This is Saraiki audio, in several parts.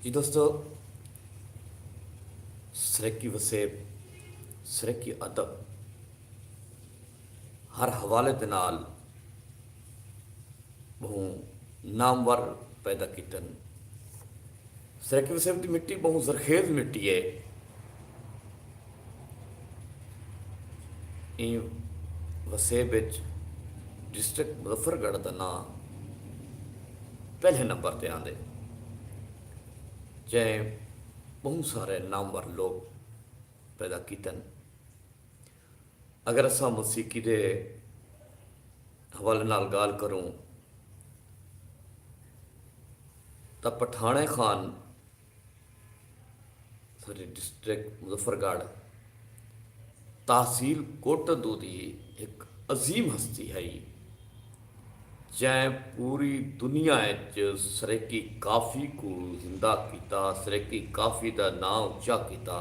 جی دوستو سرکی وسیب سرکی ادب ہر حوالے دے نال بہوں نامور پیدا کیتن سرکی وسیب دی مٹی بہوں زرخیز مٹی ہے ایں وسیب اچ ڈسٹرکٹ مظفر گڑھ دا ناں پہلے نمبر تے آندے جئیں بہوں سارے نامور لوگ پیدا کیتن اگر اساں موسیقی دے حوالے نال گال کروں تا پٹھانے خان سارے ڈسٹرکٹ مظفر گڑھ تحصیل کوٹدو دی ہک عظیم ہستی ہئی جئیں پوری دنیا اچ سریکی کافی کوں زندہ کیتا سریکی کافی دا ناں اچا کیتا۔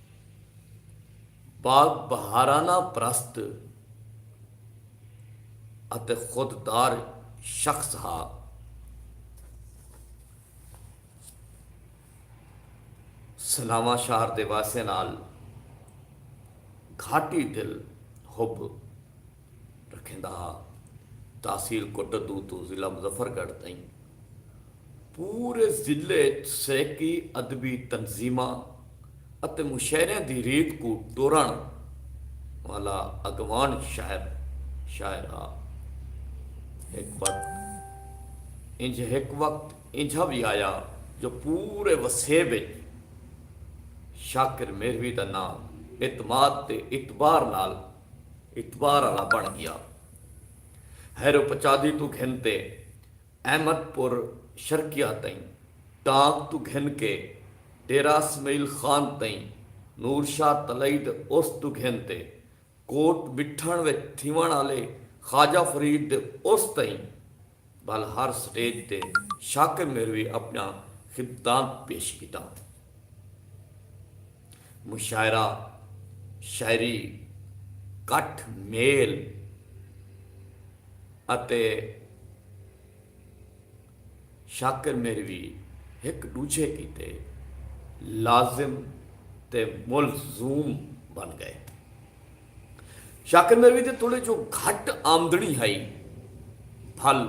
باغ بہارانہ پرست اتے خود دار شخص ہا۔ سناواں شہر دے واسیاں نال گھاٹی دل حب۔ رکھیندا ہا۔ تحصیل کوٹدو توں ضلع مظفر گڑھ تئیں پورے ضلع اچ سرائیکی ادبی تنظیماں اتے مشاعریاں دی ریت کوں ٹورݨ والا اڳواݨ شاعر شاعر ہا۔ ہک وقت انجھ ہک وقت اینجھا وی آیا جو پورے وسیب اچ شاکر میروی دا ناں اعتماد تے اعتبار نال اتوار آلا بݨ ڳیا ہیرو پچادھی توں گھن تے احمد پور شرقیہ تئیں، ٹانک توں گھن کے ڈیرہ اسمعیل خان تئیں، نور شاہ تلئی دے عرس توں گھن تے کوٹ مٹھݨ وچ تھیوݨ آلے خواجہ فرید دے عرس تئیں، بھل ہر سٹیج تے شاکر مہروی اپنڑا خدمتان پیش کیتا۔ مشاعرہ، شاعری، کٹھ میل اتے شاکر مہروی ہک ڈوجھے کیتے لازم تے ملزوم بن گئے۔ شاکر میروی دے تڑے جو گھٹ آمدنی ہئی بھل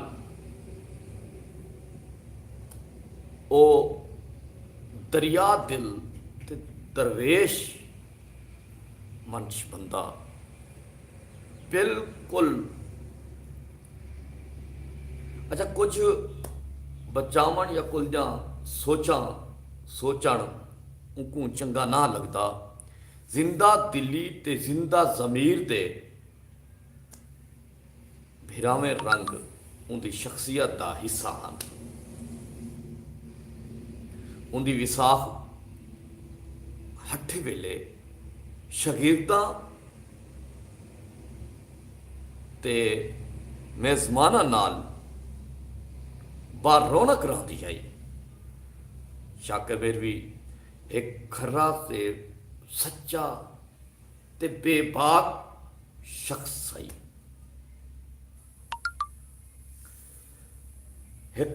او دریا دل تے درویش منچ بندہ بالکل اچھا کچھ بچاون یا کل دیاں سوچاں سوچن اونکوں چنگا نہ لگدا۔ زندہ دلی تے زندہ ضمیر دے بھراویں رنگ اوندی شخصیت دا حصہ ہن۔ اوندی وساخ ہٹھے ویلے شاگرداں تے میزماناں نال با رونق رہندی ہئی۔ شاہ کبیر وی۔ ہک کھرا تے سچا تے بے باک شخص ہئی۔ ہک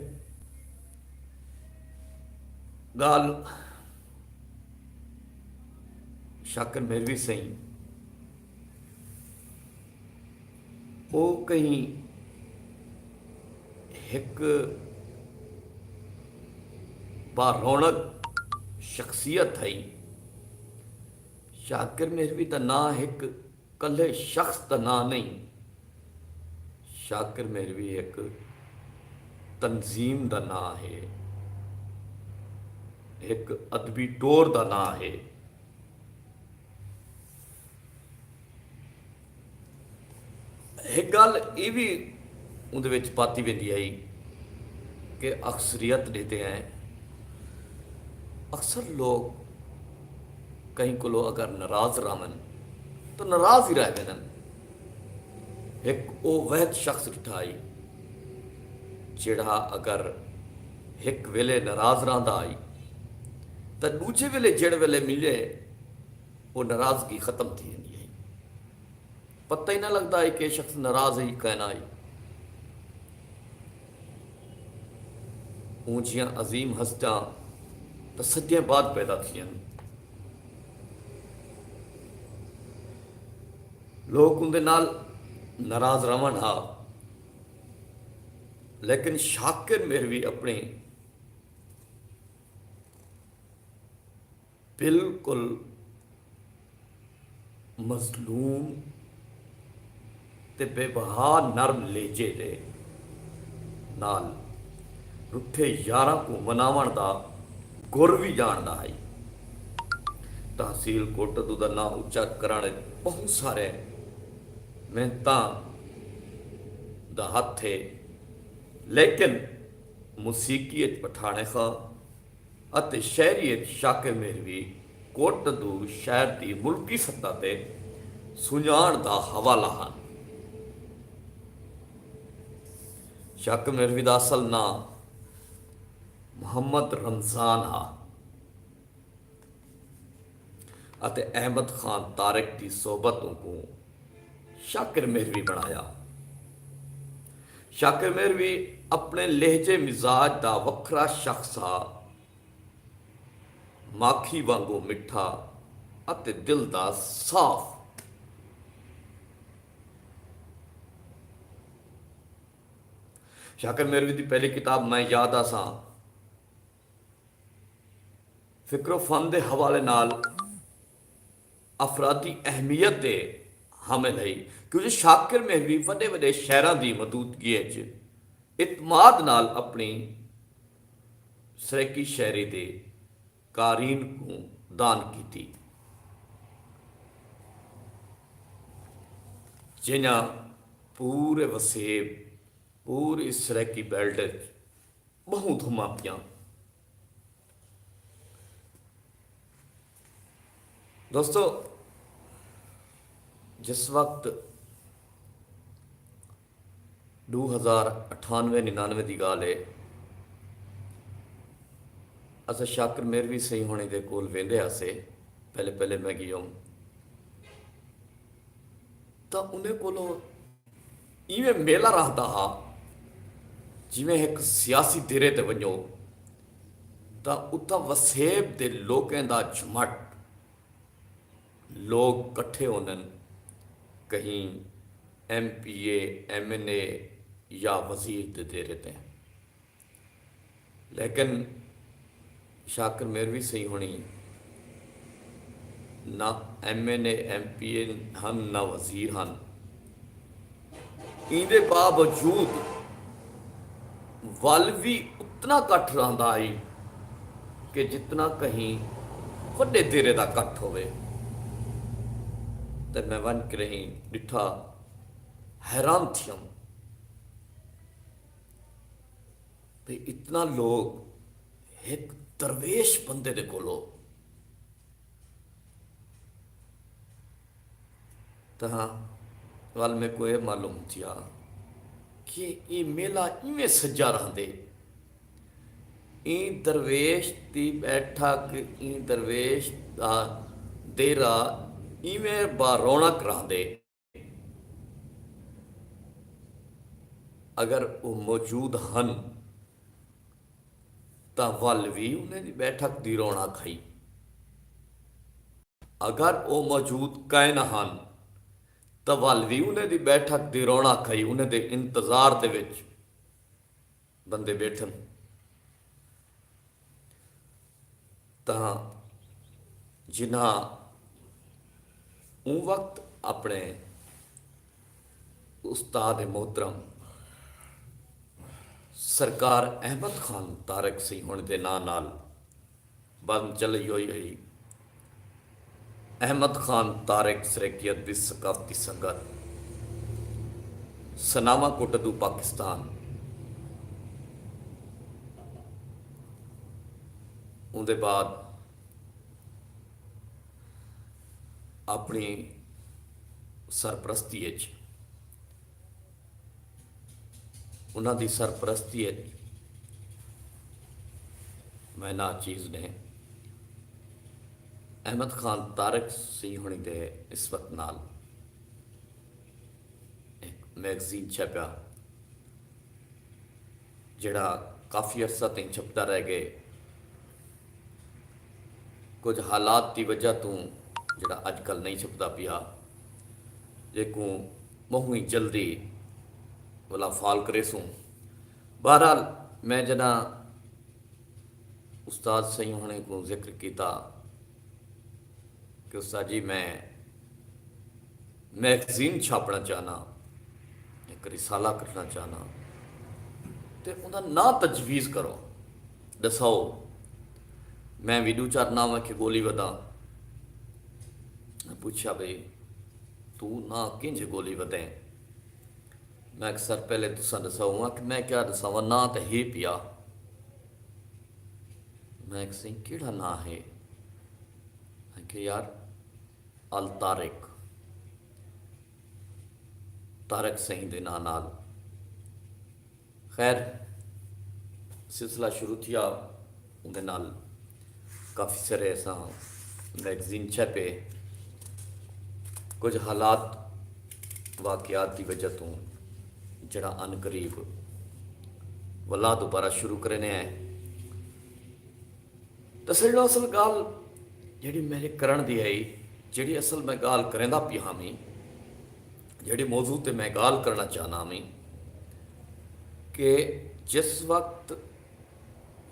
گالھ شاکر میروی سئیں۔ او کہیں ہک با رونق شخصیت ہئی۔ شاکر مہروی دا ناں ہک کلھے شخص دا ناں نئیں۔ شاکر مہروی ہک تنظیم دا ناں ہے۔ ہک ادبی ٹور دا ناں ہے۔ ہک گالھ اے وی اوندے وچ پاتی ویندی ہئی کہ اکثریت ڈیتے ہیں اکثر لوگ کہیں کلو اگر ناراض راون تو ناراض ہی رہ ویندن ہک او وحد شخص ڈٹھا ہئی جیڑھا اگر ہک ویلے ناراض رہندا ہئی تاں ڈوجھے ویلے جیڑھ ویلے ملے او ناراضگی ختم تھی ویندی ہئی۔ پتہ ای نہ لگدا ہئی کہ اے شخص ناراض ہئی کہ نہ ہئی۔ اوں جھیاں عظیم ہستیاں تاں صدیاں بعد پیدا تھیاں ہن۔ لوک اوندے نال ناراض رہون ہا لیکن شاکر مہروی اپݨی۔ بالکل مظلوم تے بے بہا نرم لہجے دے نال ݙوٹھے یاراں کوں مناوݨ دا گر وی ڄاݨدا ہئی۔ تحصیل کوٹدو دا ناں اچا کرݨ اچ ٻہوں سارے محنتاں دا ہتھ ہے لیکن موسیقی اچ پٹھاݨے خاں۔ اتے شاعری اچ شاکر مہروی کوں ٹندو شاعر دی ملکی سطح تے سنڄاݨ دا حوالہ ہن۔ شاکر مہروی دا اصل ناں محمد رمضان ہا۔ اتے احمد خان طارق دی صحبت اونکوں شاکر مہروی بݨایا۔ شاکر مہروی اپݨے لہجے مزاج دا وکھرا شخص ہا، ماکھی وانگوں مٹھا اتے دل دا صاف۔ شاکر مہروی دی پہلی کتاب میں یاد آساں۔ فکروفن دے حوالے نال افرادی اہمیت دے حامل ہئی کیوں جو شاکر مہروی وݙے وݙے شعراں دی ودودگی اچ اعتماد نال اپݨی سرائیکی شاعری دے قارئین کوں دان کیتی جئیں پورے وسیب پوری سرائیکی بیلٹ اچ ٻہوں دھماں پیاں۔ دوستو جس وقت ݙو ہزار اٹھانوے ننانوے دی ڳالھ ہے اساں شاکر میروی سئیں ہوݨیں دے کول ویندے ہاسے پہلے پہلے میں ڳیوم تاں انہیں کولوں ایویں میلہ رہدا ہا جیویں ہک سیاسی دیرے تے ونجو تاں اتھاں وسیب دے لوکیں دا جھمٹ۔ لوک کٹھے ہوندن کہیں M P A, M N A یا وزیر دے دیرے تے۔ لیکن شاکر میروی سئیں ہنڑی نہ M N A M P A ہن نہ وزیر ہن ایندے باوجود ول وی اتنا کٹھ رہندا ہئی کہ جتنا کہیں وڈے دیرے دا کٹھ ہووے تے میں ونج کرہیں ڈٹھا حیران تھیوم۔ تے اتنا لوگ ہک درویش بندے دے کولو تہاں وال میں کو اے معلوم تھیا کہ اے میلہ ایویں سجا رہندے ایں درویش دی بیٹھک ایں درویش دا دیرہ ایویں با رونق رہندے۔ اگر او موجود ہن تاں ول وی انہیں دی بیٹھک دی رونق ہئی۔ اگر او موجود کائناں ہن تاں ول وی انہیں دی بیٹھک دی رونق ہئی۔ انہیں دے انتظار دے وچ۔ بندے ٻیٹھن تاں جنہاں اوں وقت اپݨے استاد محترم سرکار احمد خان طارق سیہوݨ دے ناں نال بند چلئی ہوئی ہئی۔ احمد خان طارق سرائیکیت دی ثقافتی سنگت سناواں کوں ٹدو پاکستان اوندے بعد اپنڑی سرپرستی اچ انہاں دی سرپرستی اچ میں ناچیز نے احمد خان طارق سی ہنڑی دے نسبت نال ہک میگزین چھپیا۔ جیڑھا کافی عرصہ تئیں چھپدا رہ گئے۔ کجھ حالات دی وجہ توں جیڑھا اج کل نئیں چھپدا پیا جیکوں بہوں ای جلدی ولا فال کریسوں۔ بہرحال میں جڈاں استاد سئیں ہنڑیں کوں ذکر کیتا کہ استاد جی میں میگزین چھاپݨا چاہناں، ہک رسالہ کڈھݨا چاہناں تے اوندا ناں تجویز کرو، ݙساؤ میں وی ݙو چار ناں ویکھے ڳولی وداں۔ میں پچھیا بھئی توں ناں کینجھے ڳولی ودیں؟ میں آکھیا سر پہلے تساں ݙساؤ۔ اوں آکھیا میں کیا ݙساواں ناں تاں ہے پیا۔ میں آکھیا سئیں کیڑھا ناں ہے؟ میں آکھیا یار الطارق طارق سئیں دے ناں نال خیر سلسلہ شروع تھیا اوندے نال کافی سارے اساں میگزین چھپے کجھ حالات واقعات دی وجہ توں جڑا ان قریب ولا دوبارہ شروع کرنے ہیں تے سڄݨو اصل ڳالھ جیڑھی میݙے کرݨ دی ہئی، جیڑھی اصل میں ڳالھ کریندا پیا ہاویں، جیڑھے موضوع تے میں ڳالھ کرݨا چاہندا ہاویں کہ جس وقت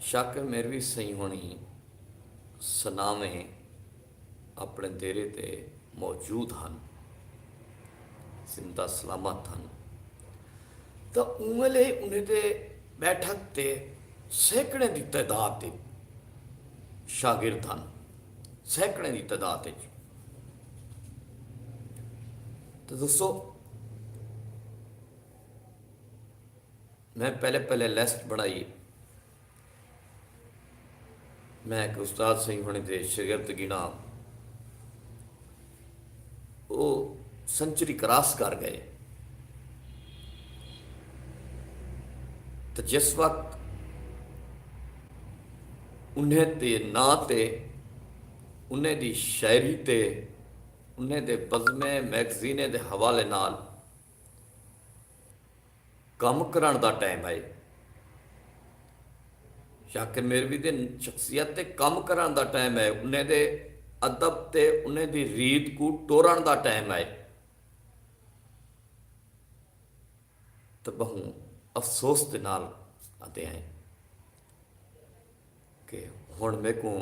شاکر میروی سئیں ہوݨیں سناویں، اپݨے دیرے تے موجود ہن، زندہ سلامت ہن تاں اوں ویلے انہیں دے ٻیٹھک تے سیکڑیں دی تعداد تے شاگرد ہن، سیکڑیں دی تعداد اچ تاں دوستو میں پہلے پہلے لیسٹ بݨائی میں ہک استاد سئیں ہوݨیں دے شگرد گھناں او سنچری کراس کر ڳئے تاں جس وقت انہیں دے ناں تے انہیں دی شاعری تے انہیں دے بزمیں میگزینیں دے حوالے نال کم کرݨ دا ٹائم ہئی۔ شاکر میروی دی شخصیت تے کم کرݨ دا ٹائم ہئی، انہیں دے ادب تے انہیں دی ریت کوں ٹورݨ دا ٹائم ہئی۔ تاں ٻہوں افسوس دے نال آندے ہیں۔ کہ ہݨ میکوں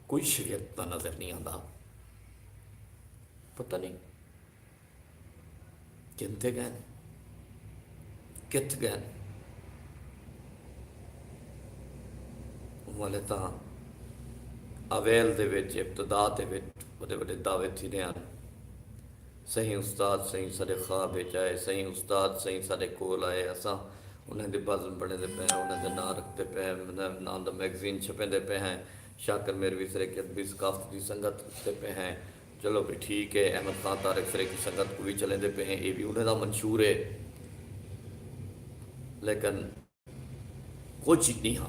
کوئی شریعت دا نظر نی آندا پتہ نی کن تے گئن کتھ گئن والے تاں اویل دے وچ ابتدا دے وچ وڈے وڈے دعوے تھیندے ہن سئیں استاد سئیں ساڈے خواب اچ آئے۔ سئیں استاد سئیں ساڈے کول آئے۔ اساں انہاں دی بزم بنڑیندے پئے ہاں۔ انہاں دا ناں رکھدے پئے ہاں۔ انہاں دے ناں دا میگزین چھپیندے پئے ہیں۔ شاکر میروی سریکی ادبی ثقافت دی سنگت اچھدے پئے ہیں۔ چلو بھئی ٹھیک ہے۔ احمد خان طارق سریکی سنگت کوں وی چلیندے پئے ہیں۔ ایہ وی انہاں دا منشور ہے۔ لیکن۔ کجھ ڈینہاں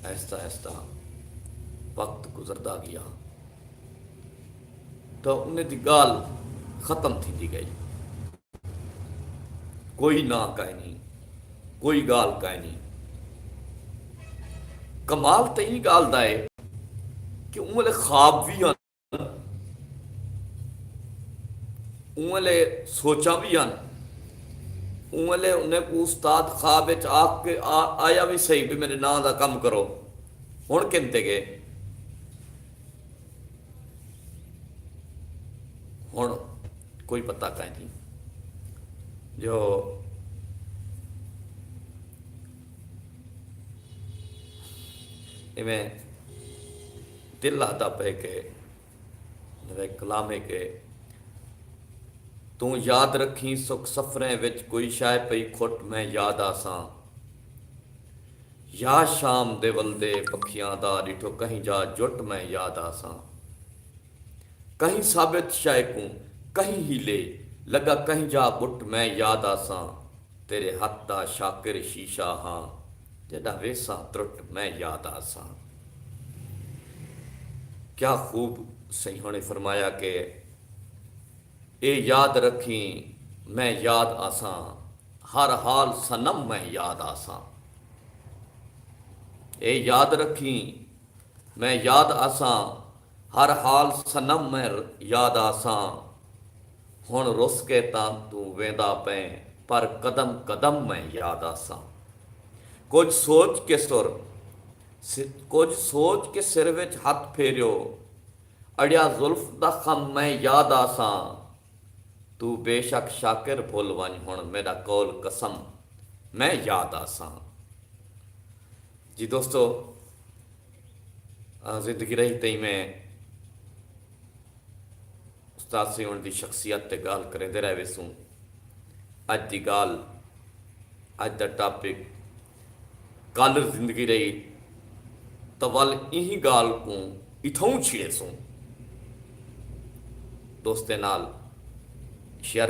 آہستہ آہستہ وقت گزردا گیا تو انہیں دی گال ختم تھی دی گئی کوئی نہ کائے نہیں کوئی گال کائے نہیں کمال تے یہ گال دائے کہ انہیں خواب بھی آنے اونلے سوچاں وی ہن۔ اونلے انہیں کوں استاد خواب وچ آکھ کے آیا وی سہی بھئی میڈے ناں دا کم کرو۔ ہن کن تے گئے۔ ہن کوئی پتہ کائنی جو ایویں۔ دل آہدا پئے کہ میݙے کلام ہے کہ توں یاد رکھیں سک سفریں وچ کوئی شئے پئی کھٹ میں یاد آساں یا شام دے ولدے پکھیاں دا ݙٹھو کہیں جا جٹ میں یاد آساں کہیں ثابت شئے کوں کہیں ہیلے لڳا کہیں جا ٻٹ میں یاد آساں تیرے ہتھ دا شاکر شیشہ ہاں۔ تیݙا ویسہ ترٹ میں یاد آساں۔ کیا خوب سئیاں نے فرمایا کہ اے یاد رکھیں میں یاد آساں ہر حال صنم میں یاد آساں۔ اے یاد رکھیں میں یاد آساں۔ ہر حال صنم میں یاد آساں ہن رس کے تاں توں ویندا پئیں پر قدم قدم میں یاد آساں کجھ سوچ کے سر کجھ سوچ کے سر وچ ہتھ پھیریو اڑیا زلف دا خم میں یاد آساں توں بے شک شاکر بھل ونج ہن میڈا قول قسم میں یاد آساں جی دوستو آں زندگی رہی تئیں میں استاد سیوݨ دی شخصیت تے ڳالھ کریندے رہ ویسوں۔ اڄ دی ڳالھ، اڄ دا ٹاپک کالر زندگی رہی تاں ول ایں ڳالھ کوں اتھاؤں چھیڑیسوں۔ دوستیں نال شیئر